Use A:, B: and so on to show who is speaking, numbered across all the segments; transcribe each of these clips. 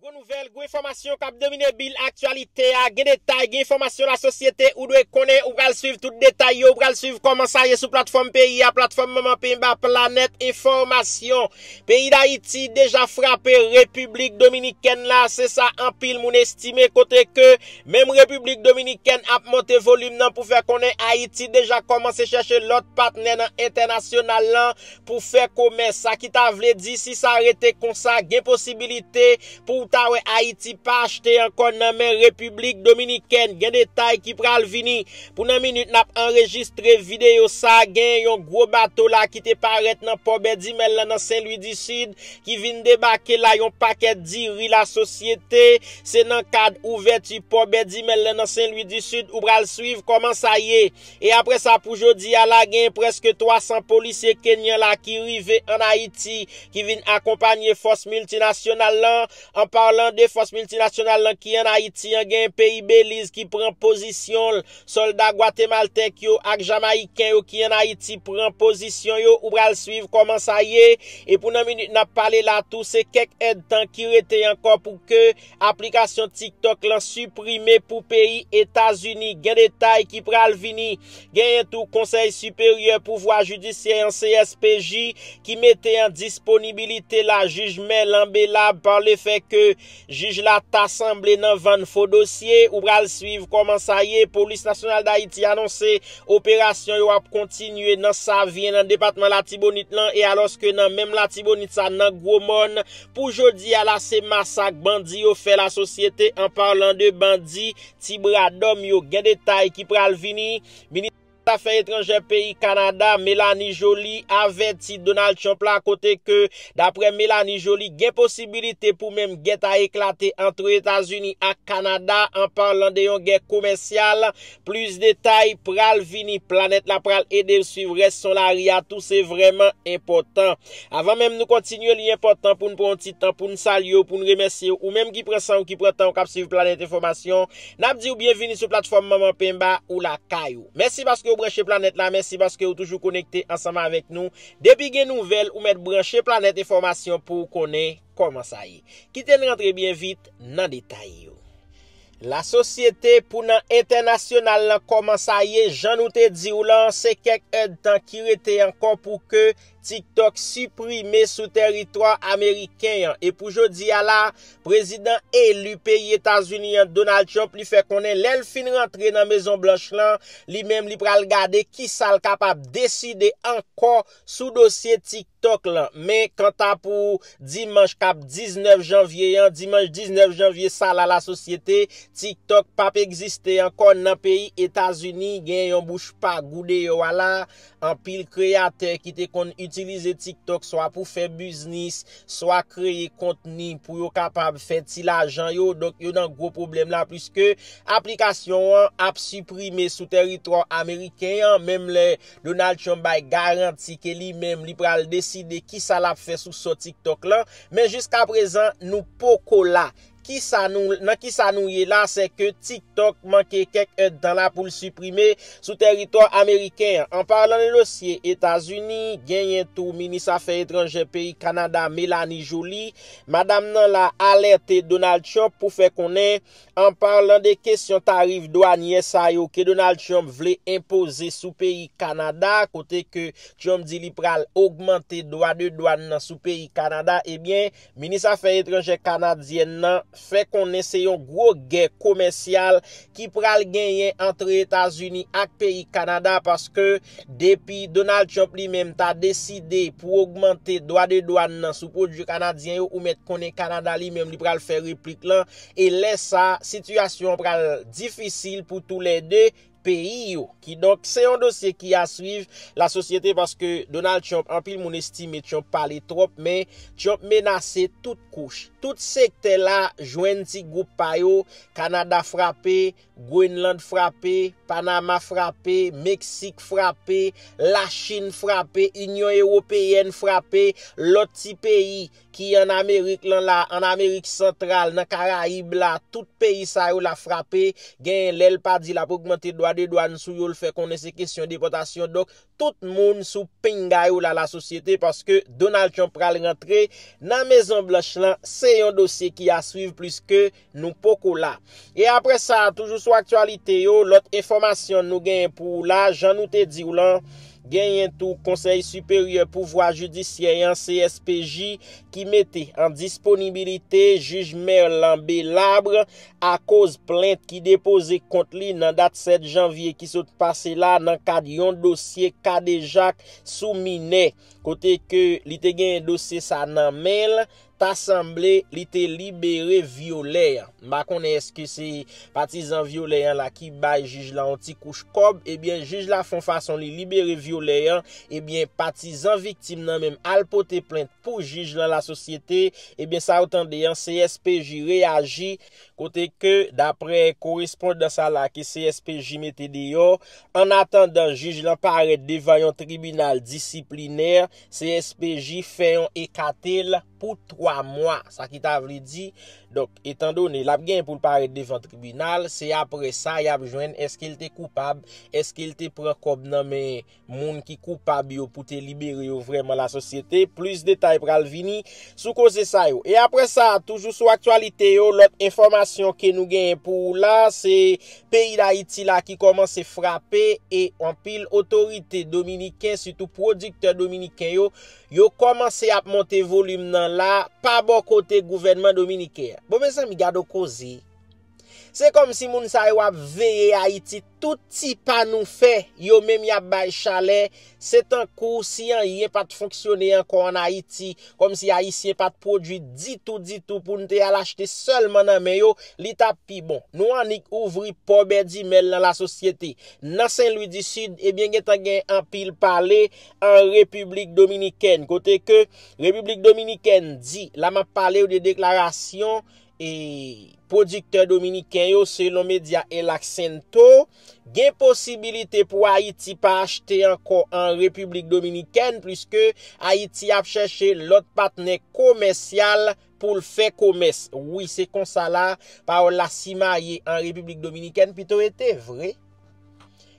A: Gwo nouvèl, gwo enfòmasyon kap domine bil aktyalite a, gen detay, gen enfòmasyon lasosyete ou dwe konnen, ou pral swiv tout detay yo, ou pral swiv kòman sa ye sou platfòm peyi a, platfòm manman penba planèt enfòmasyon. Peyi Dayiti deja frape Repiblik Dominikèn la, se sa anpil moun estime kote ke menm Repiblik Dominikèn ap monte volim nan pou fè konnen Ayiti deja kòmanse chèche lòt patnè nan entènasyonal lan pou fè komès, sa ki ta vle di si sa rete konsa gen posibilite pou w ta wè Ayiti pa achte ankò nan men Repiblik Dominikèn, gen detay ki pral vini. Pou nan minit n ap anrejistre videyo sa, gen yon gwo bato la ki te parèt nan pò Bèdimèl la nan Sen Lwi di Sid ki vin debake la yon pakèt diri lasosyete, se nan kad ouvèti pò Bèdimèl la nan Sen Lwi di Sid ou pral swiv kòman sa ye. E apre sa pou jodi a la genyen preske 300 polisye Kenyan la ki rive an Ayiti ki vin akonpanye fòs miltinasyonal lan. An parlan de fòs miltinasyonal lan ki an Ayiti an genyen peyi Beliz ki pran pozisyon l, sòlda gwatemaltèk yo ak jamayiken yo ki an Ayiti pran pozisyon yo ou pral swiv kòman sa ye. E pou nan minit n ap pale la tou se kèk èdtan ki rete ankò pou ke Aplikasyon TikTok lan siprime pou peyi Etazini, gen detay ki pral vini. Genyen tou Konsèy Siperyè Pouvwa Jidisyè an, CSPJ, ki mete an disponibilite la jij Me Lambelab pa le fè ke jij la ta sanble nan vann fo dosye. Ou pral swiv kòman sa ye. Polis Nasyonal Dayiti anonse operasyon yo ap kontinye nan Savyen nan depatman Latibonit lan e alòske nan menm Latibonit sa nan Gwomòn, Pou jodi a la se masak bandi yo fè la sosyete an parlan de bandi ti bradòm yo gen detay ki pral vini. Minis zafè etranjè peyi Kanada Melanie Joly avèti Donald Trump la kote ke daprè Melanie Joly gen posibilite pou menm gè ta eklate antre Etazini ak Kanada an parlan de yon gè komèsyal Plis detay pral vini. Planet la pral edew swiv res son lari a tou se vreman enpotan. Avan menm nou kontinye li enpotan poun pran yon ti tan poun salyew poun remesyew ou menm ki pran sanw ki pran tanw kap swiv Planet Enfomasyon. Nap diw byenvini sou platfom manman penba ou lakay ou. Mèsi paskew branche planet la mèsi paskew toujou konekte ansanm avek nou. Depi gen nouvel ou met branche Planet Enfomasyon pouw konnen koman sa ye. Kiten rantre byen vit nan detay yo. La sosyete pou nan entènasyonal lan kòman sa ye jan nou te diw lan se kèk èd tan ki rete ankò pou ke TikTok siprime sou tèritwa ameriken an e pou jodi a la prezidan eli peyi etazini an Donald Trump li fè konnen lèl fin rantre nan mezon blanch lan li menm li pral gade kisal kapab deside ankò sou dosye TikTok lan men kanta pou dimanch kap 19 janvye an dimanch 19 janvye sa la la sosyete TikTok pap egziste ankò nan peyi etazini gen yon bouch pa gou deyò a la anpil kreyatè ki te konn itilize TikTok swa pou fè biznis swa kreye kontni pou yo kapab fè ti lajan yo donk yo nan gwo pwoblèm la pliske aplikasyon an ap siprime sou tèritwa ameriken an menm lè Donald Trump bay garanti ke li menm li pral deside kisa lap fè sou so TikTok lan, men jiskaprezan nou poko la. Kisa nou, nan kisa nou ye la se ke TikTok manke kèk èdtan la pou l siprime sou tèritò ameriken an. An palan de dosye Etazini, genyen tou minis afè etranjè peyi Kanada Melanie Joly, madam nan la alète Donald Trump pou fè konnen An parlan de kesyon tarif dwanyè sa yo ke Donald Trump vle enpoze sou peyi Kanada kote ke Trump di li pral ogmante dwa de dwann nan sou peyi Kanada ebyen minis afè etranjè kanadyèn nan fè konnen se yon gwo gè komèsyal ki pral genyen antre Etazini ak peyi Kanada paske Depi Donald Trump li menm ta deside pou ogmante dwa de dwan nan sou pwodui kanadyen yo ou mèt konnen Kanada li menm li pral fè replik lan e lè sa sitiyasyon an pral difisil pou tou lè 2 peyi yo. Kidonk se yon dosye ki a swiv la sosyete paske Donald Trump anpil moun estime Trump pale twòp men Trump menase tout kouch, tout sektè la jwenn ti gwoup pa yo Kanada frape Groenland frape, Panama frape, Meksik frape, Lachin frape, Inyon Ewopeyèn frape, lòt ti peyi ki an Amerik lan la, an Amerik Santral, nan Karayib la, tout peyi sa yo la frape, genyen lè l pa di l ap ogmante dwa de dwàn sou yo l fè konnen se kesyon depòtasyon donk tout moun sou pinga yo la lasosyete paske Donald Trump pral rantre nan Mezon Blanch lan se yon dosye ki a swiv pliske Nou poko la. E apre sa, toujou sou aktyalite yo, lòt enfòmasyon nou genyen pou ou la, jan nou te di ou lan, genyen tou Konsèy Siperyè Pouvwa Jidisyè an, CSPJ, ki mete an disponibilite jij Merlan Belabre akoz plent ki depoze kont li nan dat 7 janvye ki sot pase la nan kad yon dosye kadejak sou minè. Kote ke li te genyen dosye sa nan men l, ta sanble li te libere vyolè an. M pa konnen eske se patizan vyolè an la ki bay jij la yon ti kouch kòb, ebyen jij la fon fason li libere vyolè an, ebyen patizan viktim nan menm al pote plent pou jij lan lasosyete, ebyen sa ou tande an CSPJ reyaji, kote ke daprè korespondan sa la ke CSPJ mete deyò, annatandan jij lan parèt devan yon tribinal disiplinè, CSPJ fè yon ekate l pou 3 mwa, sa ki ta vle di, donk, etan done l ap gen pou l parèt devan tribinal, se apre sa y ap jwenn èske l te koupab, èske l te pran kòb nan men moun ki koupab yo pou te libere yo vrèman lasosyete, plis detay pral vini sou koze sa yo. E apre sa, toujou sou aktyalite yo, lòt enfòmasyon ke nou genyen pou ou la, se Peyi Dayiti la ki kòmanse frape e anpil otorite dominiken sitou pwodiktè dominiken yo, yo kòmanse ap monte volim nan la pa bò kote gouvènman dominiken an. Bon mezanmi gad on koze! Se kòm si moun sa yo ap veye Ayiti tout ti pa nou fè yo menm y ap bay chalè Se tankou si anyen pa t fonksyone ankò an Ayiti, kòm si Ayisyen pa t pwodui ditou ditou pou n te al achte sèlman nan men yo, li t ap pi bon. Nou annik ouvri pò bèdimèl nan lasosyete. Nan Sen Lwi di Sid, ebyen gen tan gen anpil pale an Repiblik Dominikèn, kote ke Repiblik Dominikèn di, la m ap pale w de deklarasyon E pwodiktè dominiken yo, selon medya El Accento, gen posibilite pou Ayiti pa achte ankò an Repiblik Dominikèn puiske Ayiti ap chèche lòt patnè komèsyal pou l fè komès. Wi, se konsa la pawòl la simaye an Repiblik Dominikèn. Pito e te vre.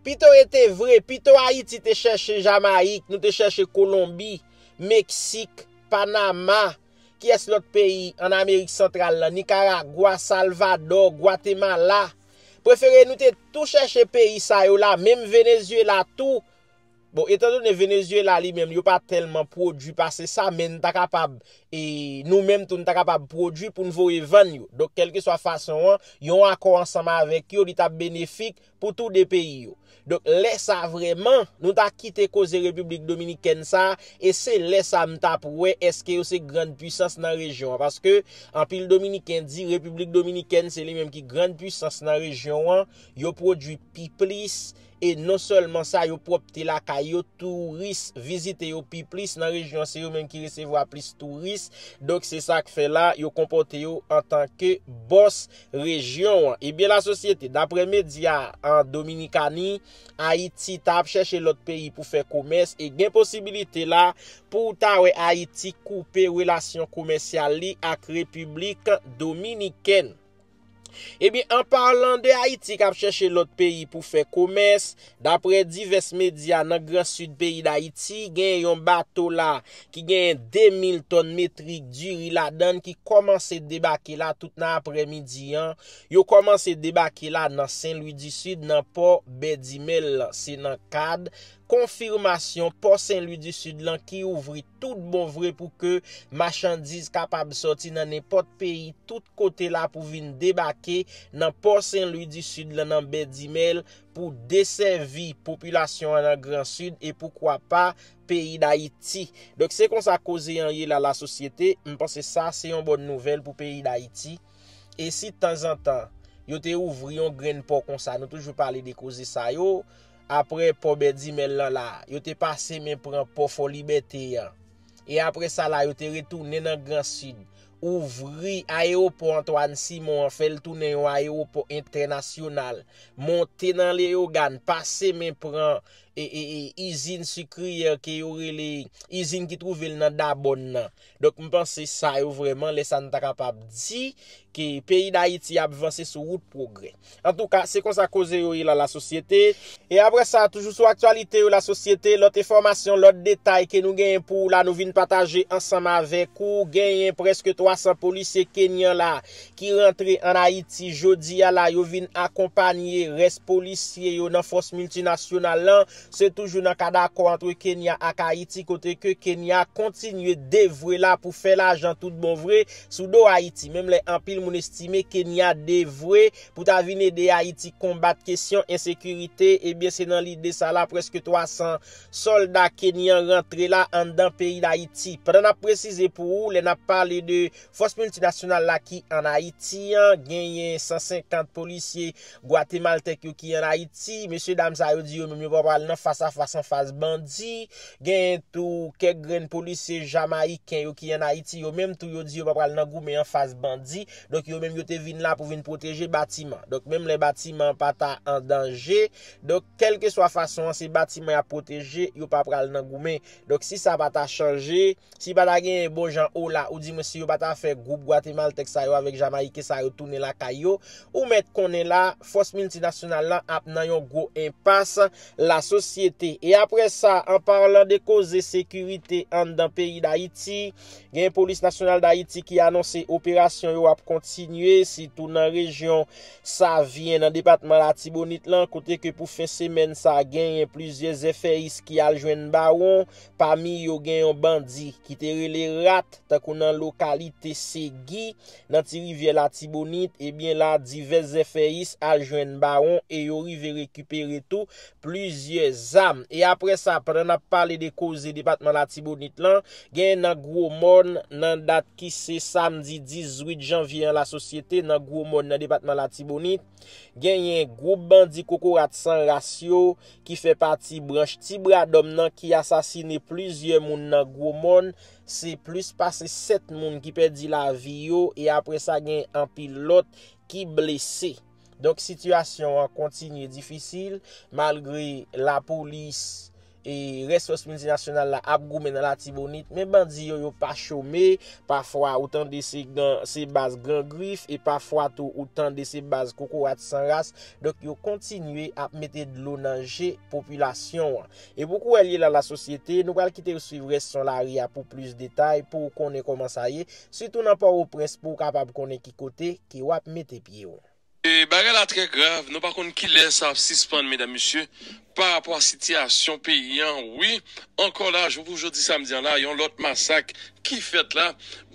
A: Pito e te vre. Pito Ayiti te chèche Jamayik, nou te chèche Kolonbi, Meksik, Panama. Kiyès lòt peyi an Amerik Santral lan, Nikaragwa, Salvadò, Gwatemala, prefere nou te tou chèche peyi sa yo la, menm Venezyela tou, bon etan done Venezyela li menm yo pa tèlman pwodui pase sa men n ta kapab e nou menm tou n ta kapab pwodui pou n voye vann yo. Donk kèlkeswa fason an, yon akò ansanm avèk yo li t ap benefik pou tou 2 peyi yo. Donk lè sa vrèman nou ta kite koze Repiblik Dominikèn sa e se lè sa m tap wè eske yo se grand pwisans nan rejyon an paske anpil dominiken di Repiblik Dominikèn se li menm ki grand pwisans nan rejyon an yo pwodwi pi plis e non sèlman sa yo pwòpte lakay yo touris vizite yo pi plis nan rejyon se yo menm ki resevwa plis touris donk se sak fè la yo konpòte yo antanke bòs rejyon an. Ebyen la sosyete, daprè medya an Dominikani, Ayiti ta ap chèche lòt peyi pou fè komès e gen posibilite la pou w ta wè Ayiti koupe relasyon komèsyal li ak Repiblik Dominikèn. Ebyen an parlan de Ayiti k ap chèche lòt peyi pou fè komès, Daprè divès medya nan gran Sid peyi Dayiti, gen yon bato la ki genyen 2 mil tòn metrik diri ladann ki kòmanse debake la tout nan aprè midi an, yo kòmanse debake la nan Sen Lwi di Sid nan pò Bèdimèl lan, se nan kad konfimasyon pò Sen Lwi di Sid lan ki ouvri tout bon vre pou ke machandiz kapab sòti nan nenpòt peyi tout kote la pou vin debake nan pò Sen Lwi di Sid lan nan Bèdimèl pou desèvi popilasyon an nan gran sid e poukwa pa peyi dayiti. Donk se konsa koze an ye la la sosyete, m panse sa se yon bòn nouvèl pou peyi dayiti e si tanzantan yo te ouvri yon grenn pò konsa nou toujou pale de koze sa yo aprè pò bèdimèl lan la yo te pase men pran pò fòlibète an. e apre sa la yo te retounen nan Gran Sid, ouvri ayewopò Antwàn Simon an, fè l tounen yon ayewopò entènasyonal, monte nan Leyogàn, pase men pran izin sikriyè ke yo rele, izin ki twouve l nan Dabòn nan. Donk m panse sa yo vrèman lè sa n ta kapab di ke peyi Dayiti ap vanse sou wout pwogrè. Antouka, se konsa koze yo ye lan lasosyete. E apre sa, toujou sou aktyalite yo lasosyete, lòt enfòmasyon, lòt detay ke nou genyen pou ou la, nou vin pataje ansanm avèk ou. Genyen prèske 300 polisye Kenyan la ki rantre an Ayiti jodi a la. Yo vin akonpanye rès polisye yo nan fòs miltinasyonal lan Se toujou nan kad akò antre Kenya ak Ayiti kote ke Kenya kontinye devwe la pou fè lajan tout bon vre sou do Ayiti menm lè anpil moun estime Kenya devwe pou ta vin ede Ayiti konbat kesyon ensekirite ebyen se nan lide sa la prèske 300 sòlda Kenyan rantre la anndan peyi Dayiti. Pandan nap presize pou ou lè nap pale de fòs miltinasyonal la ki an Ayiti an genyen 150 polisye Gwatemaltèk yo ki an Ayiti, mesye dam sa yo di yo menm yo pa pral nan fas a fas an fas bandi, genyen tou kèk grenn polisye Jamayiken yo ki an Ayiti yo menm tou yo di yo pa pral nan goumen an fas bandi, donk yo menm yo te vin la pou vin pwoteje batiman. Donk menm lè batiman an pa ta an danje, donk kèlkeswa fason an se batiman y ap pwoteje, yo pa pral nan goumen. Donk si sa pa ta chanje. Si pa ta genyen bon jan ola ou di mwen si yo pa ta fè gwoup gwatemaltèk sa yo avèk jamayiken sa yo tounen lakay yo, ou mèt konnen la fòs miltinasyonal la ap nan yon gwo enpas la sosyete. E aprè sa, an parlan de koze sekirite anndan peyi Dayiti, genyen Polis Nasyonal Dayiti ki anonse operasyon yo ap kontinye sitou nan rejyon Savyen nan depatman Latibonit lan kote ke pou fen semèn sa genyen plizyè zèfèyis ki al jwenn bawon Pami yo gen yon bandi ki te rele Rat tankou nan lokalite Segui nan ti rivyè Latibonit ebyen la divès zèfèyis al jwenn Bawon e yo rive rekipere tou plizyè zam e aprè sa pandan n ap pale de koze depatman Latibonit lan gen nan Gwo Mòn nan dat ki se samdi 18 janvye an lasosyete nan Gwo Mòn nan depatman Latibonit Genyen gwoup bandi kokorat san ras yo ki fè pati branch ti bra dòm nan ki asasine plizyè moun nan gwo mòn, se plis pase 7 moun ki pèdi lavi yo e apre sa gen anpil lòt ki blese. Donk sitiyasyon an kontinye difisil malgre lapolis. E rès fòs miltinasyonal la ap goumen nan latibonit men bandi yo yo pa chome pafwa ou tande se gan se baz gran grif e pafwa tou ou tande se baz kokorat san ras donk yo kontinye ap mete dlo nan je popilasyon an e pou kouwèl ye la la sosyete nou pral kitew swiv rès son lari a pou plis detay pouw konnen kòman sa ye sitou nan pòwoprens pouw kapab konnen ki kote ke wap mete pyew. Bagay la
B: trè grav nou pa konn kilè sa ap sispann medam mesye pa rapò a sitiyasyon peyi an wi ankò la jou pou jodi samdi an la yon lòt masak ki fèt la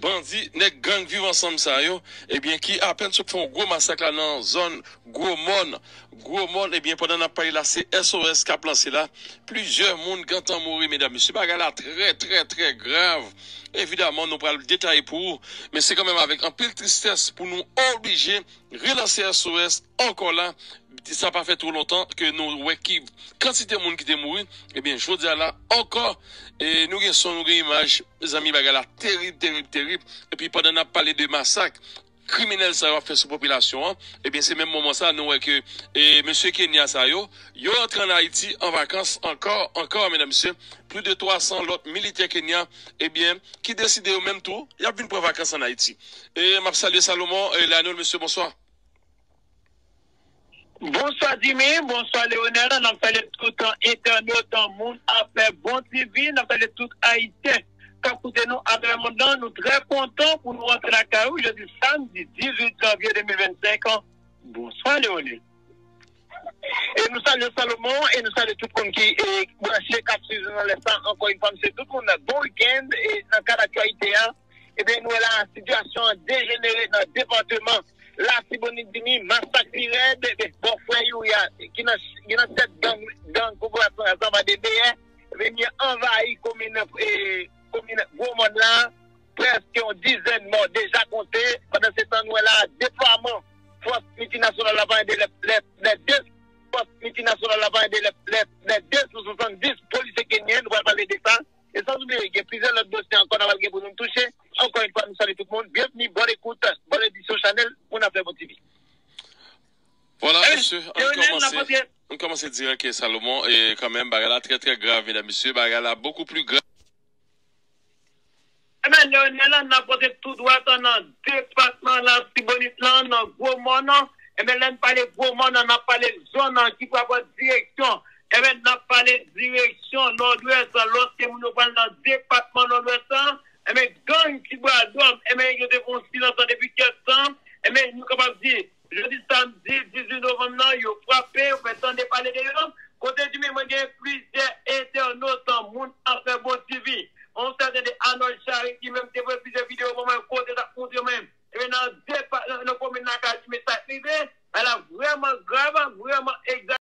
B: bandi nèg gang viv ansanm sa yo ebyen ki apèn sot fè yon gwo masak la nan zòn gwo mòn gwo mòn ebyen pandan nap pale la se SOS kap lanse la plizyè moun gentan mouri medam mesye bagay la trè trè trè grav. Evidaman nou pral detaye pou ou, men se kanmenm avèk anpil tristès pou nou oblije relanse SOS ankò la, sa pa fè two lontan ke nou wè ki kantite moun ki te mouri, ebyen jodi a la ankò nou gen son nou gen imaj, mezanmi bagay la terib terib terib, epi pandan nap pale de masak. kriminèl sa yo ap fè sou popilasyon an, ebyen se menm moman sa nou wè ke mesye Kenya sa yo, yo rantre an Ayiti an vakans ankò, ankò medam mesye, plis de 300 lòt militè Kenya ebyen ki deside yo menm tou yap vin pran vakans an Ayiti. Map salye Salomon Lionel mesye bonswa.
C: Bonswa Dimy, bonswa Leonel, nap salye tout entènot moun afè bon TV, nap salye tout ayisyen kap koute nou atravè le mond lan, nou trè kontan pou nou rantre lakay ou jodi samdi 18 janvye 2025 an, bonswa Leonel e nou salye Salomon e nou salye tout moun ki branche kap swiv nou nan lè sa, ankò yon fwa msye tout moun bon week-end e nan kad aktyalite a. Ebyen nou wè la a sitiyasyon an dejenere nan depateman Latibonit vini masak pi rèd bò frè youri a ki nan tèt gang kokorat lan zama de deyè vini anvayi komin gwo mòn la a prèske yon dizèn mò deja konte pandan se tan nou wè la a deplwaman fòs miltinasyonal la panye de lè fòs miltinasyonal la panye de lè 270 polisye kenyen nou pral pale de sa. E san oubliye gen plizyè lòt dosye ankò nan pral gen pou nou touche, ankò yon fwa nou salye tout moun, byenvni, bòn ekout, bòn edisyon chanèl moun afè bon TV. Vwala mesye
B: ann kòmanse dirèk Salomon e kanmenm bagay la trè trè grav medam mesye bagay la bokou pli grav.
C: Ebyen Leonel la nap rantre tou dwat nan depatman Latibonit lan nan gwo mòn nan, ebyen lèn pale gwo mòn nan nap pale zòn nan ki pral pran direksyon ebyen nap pale direksyon nòdwès lan lòske moun yo pral nan depatman nòdwès lan ebyen gang ti bwa dòm ebyen yo te gon silans lan depi kèk tan ebyen nou kapab di Jodi samdi 18 novanm nan, yo frape, yo fè tande pale de yo, kote di men mwen gen plizyè entènot, moun afè bon ti vi, yon sèten de Anòl Chary ki menm te voye plizyè videyo ban mwen kote l ap montre mwen ebyen nan depa, nan komin Lakay di men sa k rive a la vrèman grav, vrèman egza.